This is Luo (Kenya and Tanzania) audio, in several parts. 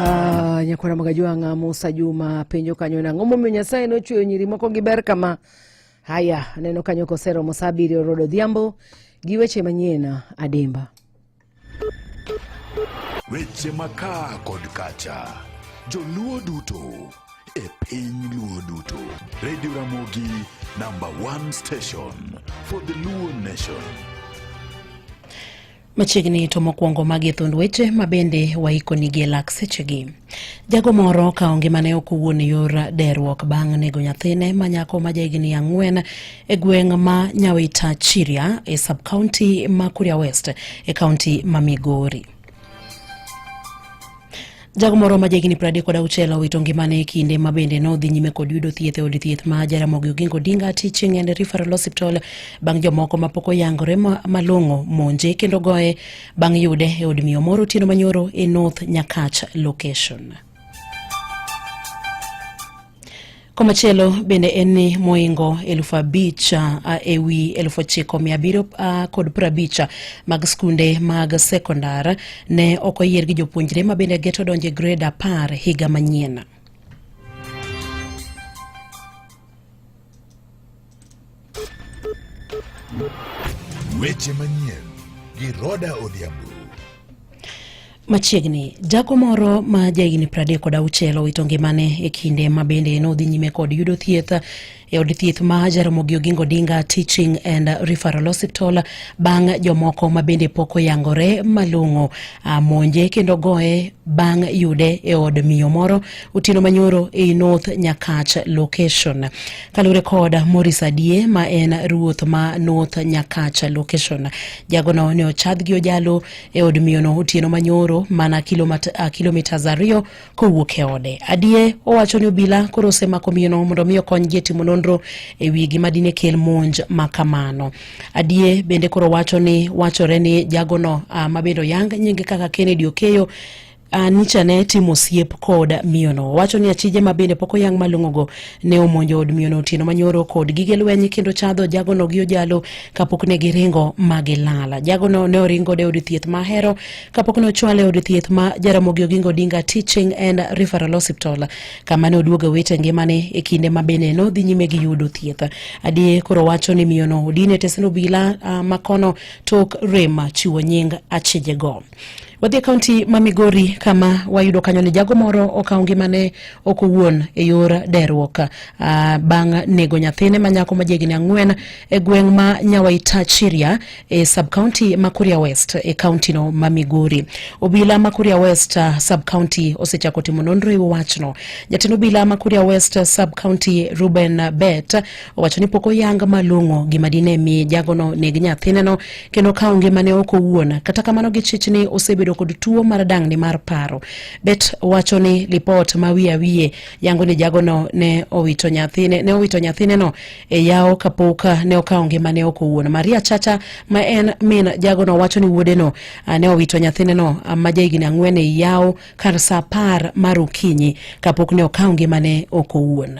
Ah, nyakwara magajwang'a musa juma penjo kanyo nang'o momiyo nyasaye nochweyo nyiri moko gi ber kama haya aneno kanyo kosero mosabiri orodo odhiambo gi weche manyien adimba Weche makaa kod kacha, joluo duto e piny luo duto. Radio Ramogi number one station for the Luo nation. Machiegni to mokwongo magi thund weche ma bende waikoni gi e lak sechegi. Jago moro ka onge mane ok owuon yor derruok bang' nego nyathine ma nyako ma jahigni ang'wen e gweng' ma Nyawita Chiria e sub-county ma Kuria West e county ma Migori. Jago moro ma jahigni piero adek kod auchiel owito ngimane e kinde ma bende nodhi nyime kod yudo thieth e od thieth ma Jaramogi Oginga Odinga Teaching and Referral Hospital bang' jomoko ma pok oyangore malong'o monje kendo goye bang' yude e od miyo moro otieno manyoro e North Nyakach location. Komachielo bende en ni moingo elfu abich uh, e wi elfu ochiko mia abiriyo uh, kod piero abich mag skunde mag sekondar ne ok oyier gi jopuonjre ma bende geto donjo e grade apar higa manyien. Weche manyien gi Roda Odhiambo. Machiegni, jago moro ma jahigni pradek kod auchiel owito ngimane e kinde ma bende nodhi nyime kod yudo thieth e od thieth ma Jaramogi Oginga Odinga Teaching and Referral Hospital bang' jomoko ma bende pok oyangore malong'o monje kendo goye bang' yude e od miyo moro otieno manyoro ei North Nyakach location. Kaluwore kod Morris Adie ma en ruoth ma North Nyakach location, jagono ne ochadh gi ojalo e od miyono otieno manyoro mana kilomita ariyo kowuok e ode. Adie owacho ni obila koro osemako miyono mondo mi okonygi e timo nonro e wi gima dine kel monj ma kamano. Adie bende koro wacho ni wachore ni jagono ah, ma bende oyang nyinge kaka Kennedy Okeyo Anicha ne timo osiep kod miyono. Wacho ni achije ma bende pok oyang' malong'ogo ne omonjo od miyono otieno manyoro kod gige lweny kendo chadho jagono gi ojalo kapok ne giringo ma gilala. Jagono ne oringo de od thieth ma hero kapok ne ochwale od thieth ma Jaramogi Oginga Odinga Teaching and Referral Hospital kama ne oduogo wete ngimane e kinde ma bende ne odhi nyime gi yudo thieth. Adie koro wacho ni miyono odine tesno bila uh, ah, makono tok rem chiwo nying achijego. Wadhi e kaunti ma Migori kama wayudo kanyo ni jago moro okawo ngimane ok owuon e yor deruok uh, bang' nego nyathine ma nyako ma jahigni ang'wen e gweng' ma Nyawaita Chiria e sub county ma Kuria West e kaunti no ma Migori. Obila ma Kuria West uh, sub county osechako timo nonro e wachno. Jatend obila ma Kuria West sub county Ruben Bet owacho ni pok oyang malong'o gima dine mi jagono neg nyathineno kendo kawo ngimane ok owuon kata kamano gichich ni osebedo kod tuo mar dang'ni mar paro bet wacho ni lipot ma wiye awiye yango ni jagono ne owito nyathine ne owito nyathineno e yawo kapok ne okawo ngimane ok owuon maria chacha ma en min jagono wacho ni wuodeno ah, ne owito nyathineno ah, ma jahigni ang'wen e yawo kar sa apar mar okinyi kapok ne okawo ngimane ok owuon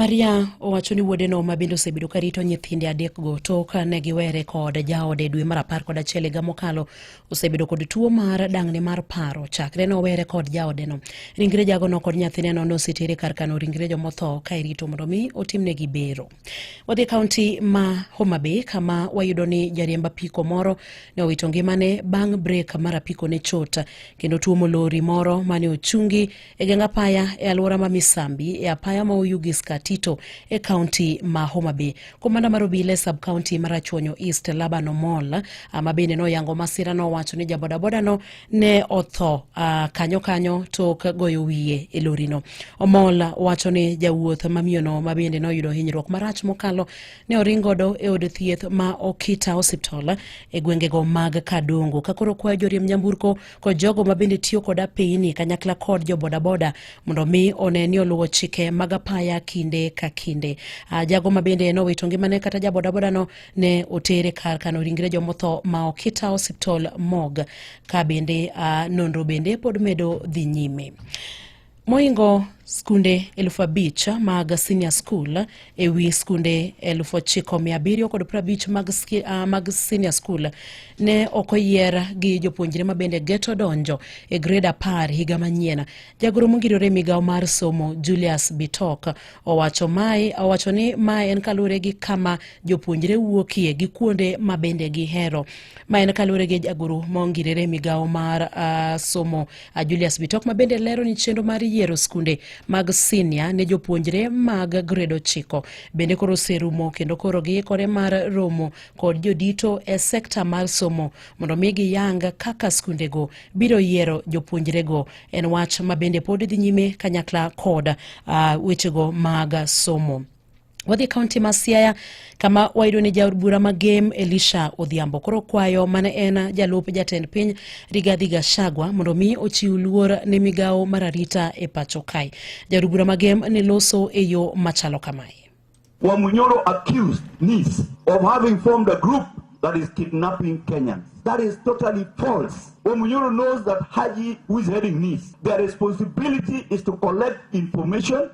Maria owacho ni wuodeno ma bende osebedo ka rito nyithinde adekgo tok ka ne giwere kod jaode dwe mar apar kod achiel higa mokalo osebedo kod tuo mar dang'ni mar paro chakre ne owere kod jaodeno. Ringre jagono kod nyathineno ne osetere kar kano ringre jomotho ka irito mondo mi otimnegi bero. Wadhi kaunti ma Homa Bay kama wayudo ni jariemb apiko moro ne owito ngimane bang' brek mar apiko ne chot kendo tuomo lori moro mane ochungi e geng apaya e alwora ma Misambi e apaya ma Oyugi Skatito e kaunti ma Homa Bay. Komanda mar obila e sub-kaunti ma Rachuonyo East Laban Omol ma bende noyango masira nowacho ni jabodaboda-no ne otho kanyo kanyo tok goyo wiye e lorino. Omol wacho ni jawuoth ma miyono ma bende noyudo hinyruok marach mokalo ne oring godo e od thieth ma Okita Hospital e gwengego mag Kadongo. Kakoro kwayo joriemb nyamburko kod jogo ma bende tiyo kod apeyini kanyakla kod jo bodaboda mondo mi one ni oluwo chike mag apaya kinde ka kinde. Ah, jago ma bende nowito ngimane kata ja bodabodano ne otere kar kano ringre jomotho ma Okita Hospital mog ka bende ah, nonro bende pod medo dhi nyime. Moingo skunde elfu abich mag senior school e wi skunde elfu ochiko mia abiriyo kod prabich mag, uh, mag senior school ne ok oyier gi jopuonjre ma bende geto donjo e gred apar higa manyien. Jagoro mongirore migawo mar somo Julius Bitok owacho mae owacho ni mae en kaluwore gi kama jopuonjre wuokie gi kuonde ma bende gihero. Ma en kaluwore gi jagoro mongirore migawo mar uh, somo A Julius Bitok ma bende lero ni chenro mar yiero skunde mag sinia ne jopuonjre mag grade ochiko bende koro oserumo kendo koro giikore mar romo kod jodito e sekta mar somo mondo mi giyang kaka skundego biro yiero jopuonjrego. En wach ma bende pod dhi nyime kanyakla kod uh, wechego mag somo. Wadhi e kaunti ma Siaya kama wayudo ni jaod bura ma Gem Elisha Odhiambo koro kwayo mane en jalup jatend piny Rigathi Gachagua mondo mi ochiw luor ne migawo mar arita e pacho kae. Jaod bura ma Gem ne loso e yo machalo kamae. Wamunyoro accused niece of having formed a group that is kidnapping Kenyans. That is totally false. Wamunyoro knows that Haji, who is heading this, their responsibility is to collect information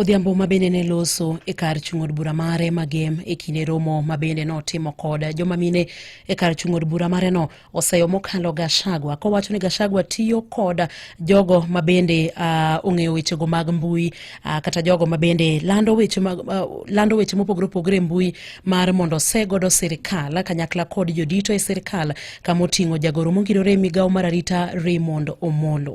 Odhiambo ma bende ne loso e kar chung' od bura mare magem e kinde romo ma bende notimo kod joma mine e kar chung' od bura mareno oseyo mokalo Gashagwa kowacho ni Gashagwa tiyo kod jogo ma bende uh, ong'eyo wechego mag mbui uh, kata jogo ma bende lando weche, mag, uh, lando weche mopogore opogore e mbui mar mondo ose godo sirikal kanyakla kod jodito e sirikal kama oting'o jagoro mongirore e migawo mar arita Raymond Omolo.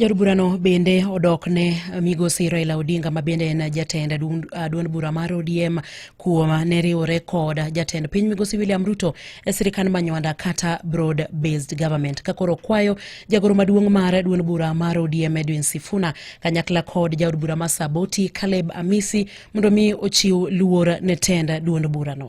Jaod burano bende odok ne migosi Raila Odinga ma bende en jatend duond bura mar ODM kuom ne riwore kod jatend piny migosi William Ruto e sirikand manywanda kata broad based government ka koro kwayo jagoro maduong' mar duond bura mar ODM Edwin Sifuna kanyakla kod jaod bura ma Saboti Caleb Amisi mondo mi ochiw luor ne tend duond burano.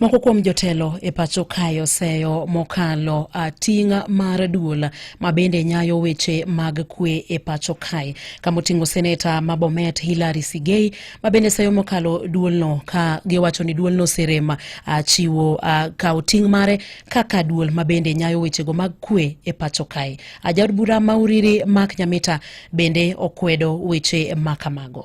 Moko kuom jotelo e pacho kae oseyo mokalo ting' mar duol ma bende nyayo weche mag kwe e pacho kae kamoting'o seneta ma Bomet Hilary Sigei ma bende seyo mokalo duolno ka giwacho ni duolno oserem chiwo kawo ting' mare kaka duol ma bende nyayo wechego mag kwe e pacho kae. Ajaod bura ma Uriri Mark Nyamita bende okwedo weche ma kamago.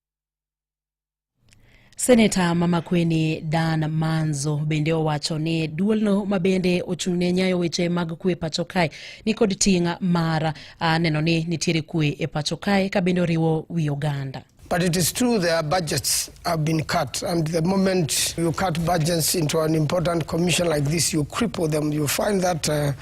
Seneta Mamakweni Dan Manzo bende owacho ni duolno ma bende ochung'ne nyayo weche mag kwe pacho kae nikod ting' mar ah, neno ni nitiere kwe e pacho kae ka bende oriwo wi oganda. But it is true their budgets have been cut. And the moment you cut budgets into an important commission like this, you cripple them. You find that uh,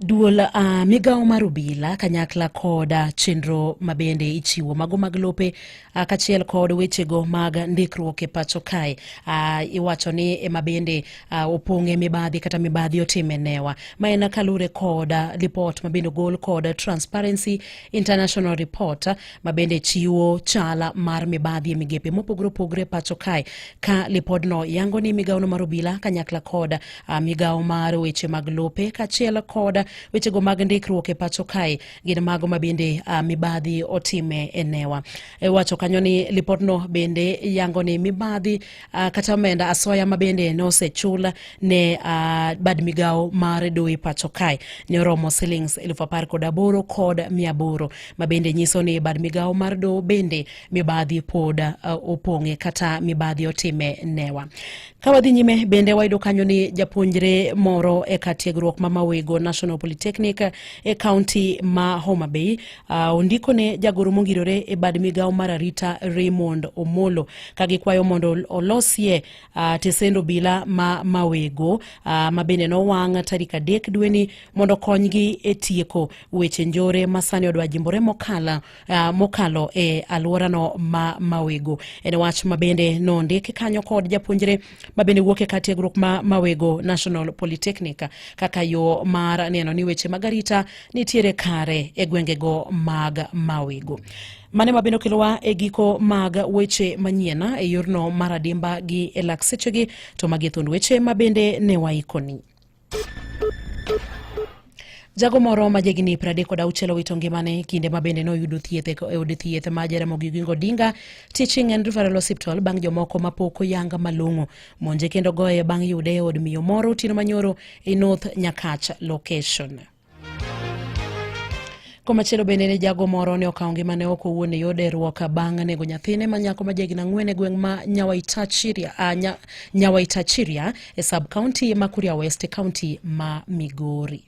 Duol uh, migawo mar obila kanyakla kod uh, chenro mabende ichiwo mago mag lope uh, kachiel kod wechego mag ndikruok e pacho kae uh, iwacho ni ema bende uh, opong'e mibadhi kata mibadhi otime newa ma en kalure kod uh, lipot mabende ogol kod Transparency International Report ma bende chiwo chala mar mibadhi e migepe mopogore opogore e pacho kae ka lipodno yango ni migawono mar obila kanyakla kod uh, migawo mar weche mag lope kaachiel kod wechego mag ndikruok e pacho kae gin mago ma bende uh, mibadhi otime e newa e wacho kanyo ni lipodno bende yango ni mibadhi Uh, kata omenda asoya ma bende nosechul ne uh, bad migawo mar doe pacho kae ne oromo silings elfu apar kod aboro kod mia aboro ma bende nyiso ni bad migawo mar doho bende mibadhi pod uh, opong'e kata mibadhi otime newa ka wadhi nyime bende wayudo kanyo ni japuonjre moro e kar tiegruok ma mawego national polytechnic e kaunti ma homa bay Uh, ondiko ne jagoro mongirore e bad migawo mar arita Raymond Omolo ka gikwayo mondo olosie uh, tesend obila ma mawego uh, ma bende nowang' tarik adek dweni mondo konygi e tieko weche njore ma sani odwa jimbore mokala, uh, mokalo e alworano ma mawego. En wach ma bende nondik kanyo kod japuonjre ma bende wuok e kar tiegruok ma Mawego National Polytechnic kaka yo mar neno ni weche mag arita nitiere kare e gwengego mag Mawego. Mane ma bende okelowa e giko mag weche manyien e yorno mar adimba gi e lak sechegi to magi e thund weche ma bende ne waikoni. Jago moro ma jahigni 36 owito ngimane kinde ma bende noyudo thieth e od thieth ma Jaramogi Oginga Odinga Teaching and Referral Hospital bang' jomoko ma pok oyanga malong'o monje kendo goye bang' yude e od miyo moro otieno manyoro e North Nyakach location. Komachielo bende ne jago moro ne okawo ngimane ok owuon e yor deruok bang' nego nyathine ma nyako ma jahigni ang'wen e gweng' ma Nyawaitachiria, uh, nya, Nyawaitachiria e sub county ma Kuria West e county ma Migori.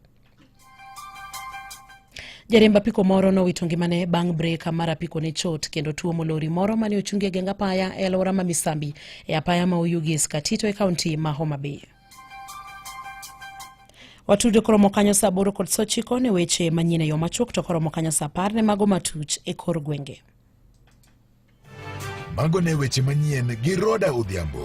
Jariemb apiko moro nowito ngimane bang' brek mar apiko ne chot kendo tuomo lori moro mane ochungi e geng apaya e alwora ma Misambi e apaya ma Oyugis Katito e kaunti ma Homa Bay. Watudo koromo kanyo saa aboro kod saa ochiko ne weche manyien e yo machuok to koromo kanyo saa apar ne mago matuch e kor gwenge. Mago ne weche manyien gi Roda Odhiambo.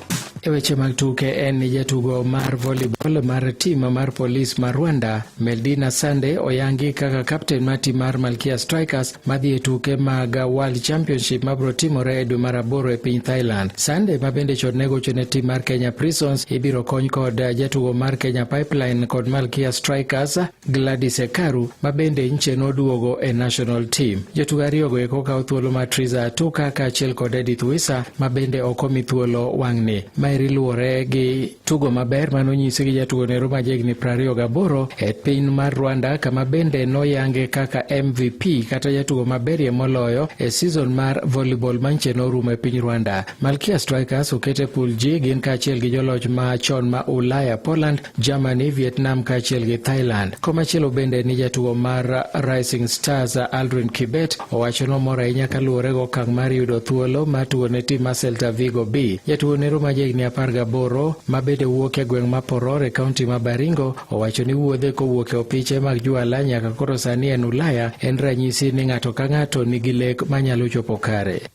E weche mag tuke en ni jatugo mar volleyball mar tim mar polis mar Rwanda Meldina Sande oyangi kaka kapten mar tim mar Malkia Strikers madhi e tuke mag World Championship mabiro timore e dwe mar aboro e piny Thailand. Sande ma bende chon ne gocho ne tim mar Kenya Prisons ibiro kony kod jatugo mar Kenya Pipeline kod Malkia Strikers Gladys Ekaru ma bende nche noduogo e national team. Jotugo ariyogo eko kawo thuolo mar Triza Atuka kaachiel kod Edith Wisa ma bende ok omi thuolo wang'ni. Maeri luwore gi tugo maber ma nonyisi gi jatugo nero ma jahigni prariyo gaboro e piny mar Rwanda kama bende noyange kaka MVP kata jatugo maberie moloyo e season mar volleyball ma nche norumo e piny Rwanda. Malkia Strikers okete pool G gin kaachiel gi joloch ma chon ma Ulaya Poland Germany, Vietnam kaachiel gi Thailand. Komachielo bende ni jatugo mar Rising Stars Aldrin Kibet owacho nomor ahinya kaluwore gi okang' mar yudo thuolo mar tugo ne tim mar Celta Vigo B. Jatugo nero ma jahigni apar gaboro ma bende wuok e gweng' ma Poror e kaunti ma Baringo owacho ni wuodhe kowuok e opiche mag juala nyaka koro sani en Ulaya en ranyisi ni ng'ato ka ng'ato nigi lek manyalo chopo kare.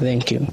Thank you.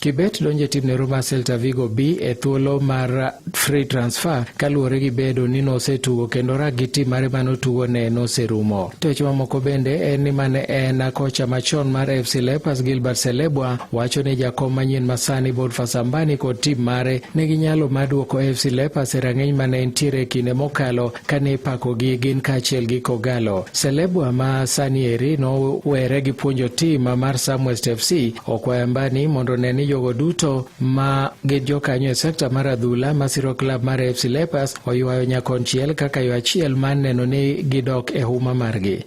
Kibet donjo e timne Roma Celta Vigo B e thuolo mar free transfer kaluwore gi bedo ni nosetugo kendo rak gi tim mare mane otugo ne noserumo. To weche mamoko bende en ni mane en kocha machon mar FC Leopards Gilbert Selebwa wacho ni jakom manyien masani Boniface Ambani kod tim mare nigi nyalo mar duoko FC Leopards e rang'iny mane entiere e kinde mokalo kane ipakogi gin kaachiel gi Kogalo. Selebwa ma sani eri nowere gi puonjo tim mar Samwest FC okwaya mbani mondo ne ni jogo duto ma gin jokanyo e sekta mar adhula masiro klab mar FC Leopards oywayo nyakonchiel kaka yo achiel mar neno ni gidok e huma margi.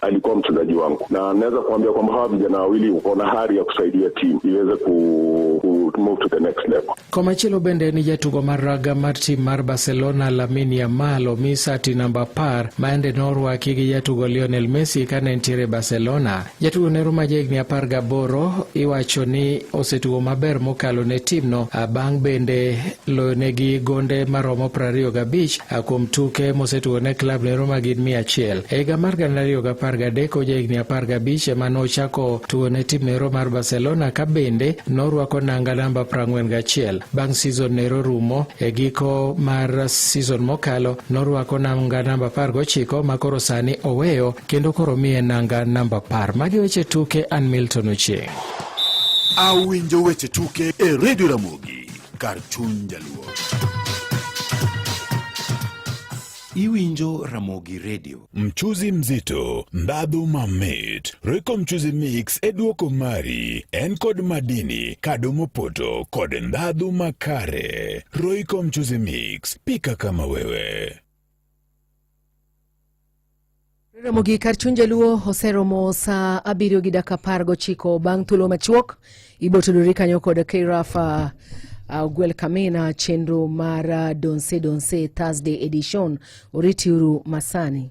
alikuwa mchezaji wangu, na naweza kuambia kwamba hawa vijana wawili wako na hari ya kusaidia timu iweze ku, ku move to the next level. Komachielo bende ni jatugo mar raga mar tim mar Barcelona Lamine Yamal omi sati namba apar maende norwaki gi jatugo Lionel Messi kane ntiere Barcelona. Jatugo nero ma jahigni apar gaboro iwacho ni osetugo maber mokalo ne timno bang' bende loyonegi gonde maromo prariyo gabich A kuom tuke mosetugo ne klab ne Roma gin mia achiel. E higa mar gana ariyo gi apar gadek oja higni apar gabich ema nochako tugo ne tim nero mar Barcelona ka bende norwako nanga namba prang'wen gachiel. Bang' season nero rumo e giko mar season mokalo norwako nanga namba apar gochiko ma koro sani oweyo kendo koro miye nanga namba apar. Magi weche tuke an Milton Ochieng'. Awinjo weche tuke e Radio Ramogi. kar chuny jaluo. Iwinjo Ramogi Radio. Mchuzi mzito, ndhadhu mamit. Royco Mchuzi Mix e duoko mari. En kod madini, kado mopoto kod ndhadhu makare. Royco Mchuzi Mix, pika kama wewe. Ramogi kar chuny jaluo oseromo saa abiriyo gi dakika apar gochiko bang' thuolo machuok ibotudori kanyo kod kraf uh, ogwel uh, kamina chenro mar uh, donse donse thursday edition oritiuru masani